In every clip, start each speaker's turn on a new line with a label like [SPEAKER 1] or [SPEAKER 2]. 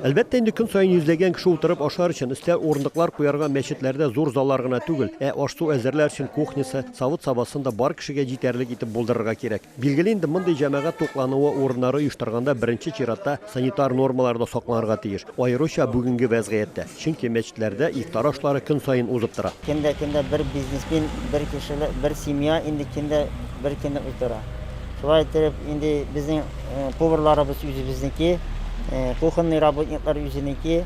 [SPEAKER 1] Әлбәттә инде көн саен йөзләгән кеше утырып ашар өчен өстәл урындыклар куярга мәчетләрдә зур заллар гына түгел, ә аш-су әзерләр өчен кухнясы, савыт-сабасын да бар кешегә җитәрлек итеп булдырырга кирәк. Билгеле инде, мондый җәмәгать туклануы урыннары оештырганда беренче чиратта санитар нормалар да сакланырга тиеш, аеруча бүгенге вәзгыятьтә, чөнки мәчетләрдә ифтар ашлары көн саен узып тора. Көн дә көн дә бер
[SPEAKER 2] бизнесмен, бер кешелек, бер семья инде көн дә бер көнне утыра. Шулай иттереп инде безнең. Поварларыбыз үзебезнеке, кухонный работниклар үзенеке.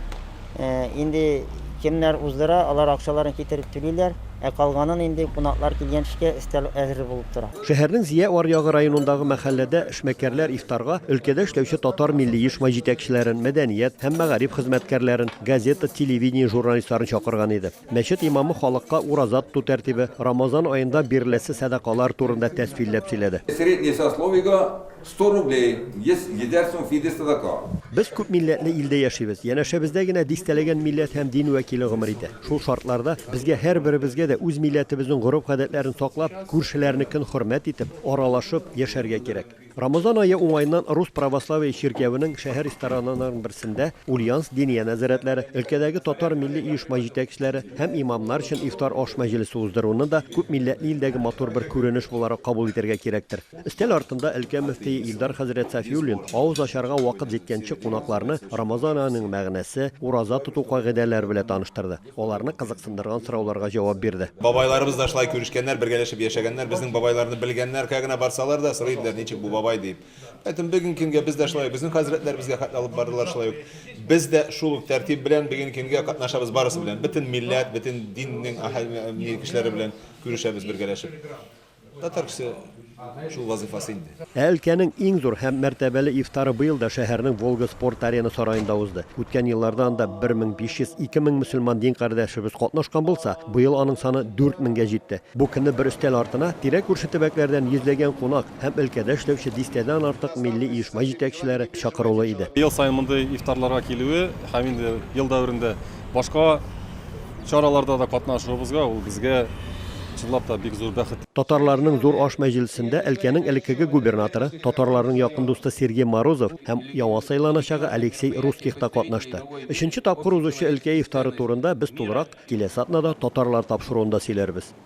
[SPEAKER 2] Инде кемнәр уздыра, алар акчаларын китереп түлиләр, ә калганын инде кунаклар килгәнче өстәл әзер булып тора. Шәһәрнең Зия аръягы
[SPEAKER 1] районындагы мәхәлләдә эшмәкәрләр ифтарга өлкәдә эшләүче татар милли оешма җитәкчеләрен, мәдәният һәм мәгариф хезмәткәрләрен, газета, телевидение журналистларын чакырган иде. Мәчет имамы халыкка ураза тоту тәртибе, Рамазан аенда биреләсе сәдакалар турында тәфсилләп сөйләде. Среднее сословиегә
[SPEAKER 3] 100 рублей, 100 йөзәр сум фидия садака. Без күп милләтле
[SPEAKER 1] илдә яшибез. Янәшәбездә генә дистәләгән милләт һәм дин вәкиле гомер итә. Шул шартларда безгә һәрберебезгә дә үз милләтебезнең гореф-гадәтләрен саклап, күршеләрнекен хөрмәт итеп, аралашып яшәргә кирәк. Рамазан ае уңаеннан Рус православие чиркәвенең шәһәр ресторананарының берсендә Ульяновск диния нәзарәтләре, өлкәдәге татар милли оешма җитәкчеләре һәм имамнар өчен ифтар аш мәҗлесе уздыруны да күп милләтле илдәге матур бер күренеш буларак кабул итәргә кирәктер. Өстәл артында өлкә мөфтие Илдар хәзрәт Сафиуллин авыз ачарга вакыт җиткәнче кунакларны Рамазан аеның мәгънәсе, ураза тоту кагыйдәләре белә таныштырды. Аларны кызыксындырган сорауларга җавап бирде. Бабайларыбыз да шулай
[SPEAKER 4] күрешкәннәр, бергәләшеп яшәгәннәр, безнең бабайларны белгәннәр, кая гына барсалар да, сорый иделәр, ничек бу бабай дип. Поэтому бүгенге көнгә без дә шулай ук, безнең хәзрәтләребезгә хәтле алып бардылар шулай ук. Без дә шул ук тәртип белән бүгенге көнгә катнашабыз барысы белән, бөтен милләт, бөтен диннең кешеләре белән күрешәбез бергәләшеп. Татар кеше шул вазыйфасы инде. Ә өлкәнең иң зур
[SPEAKER 1] һәм мәртәбәле ифтары быел да шәһәрнең Волга спорт-арена сараенда узды. Үткән елларда анда 1500-2 мең мөселман дин кардәшебез катнашкан булса, быел аның саны 4 меңгә җитте. Бу көнне бер өстәл артына тирә-күрше төбәкләрдән йөзләгән кунак һәм өлкәдә эшләүче дистәдән артык милли оешма җитәкчеләре чакырулы иде. Ел саен мондый
[SPEAKER 5] ифтарларга килүе һәм инде ел дәверендә Башка чараларда да катнашуыбызга ул безгә чынлап та бик зур бәхет. Татарларның зур аш
[SPEAKER 1] мәҗлесендә өлкәнең элеккеге губернаторы, татарларның якын дусты Сергей Морозов һәм яңа сайланачагы Алексей Русских та катнашты. Өченче тапкыр узучы өлкә ифтары турында без тулырак киләсе атнада татарлар тапшыруында сөйләрбез.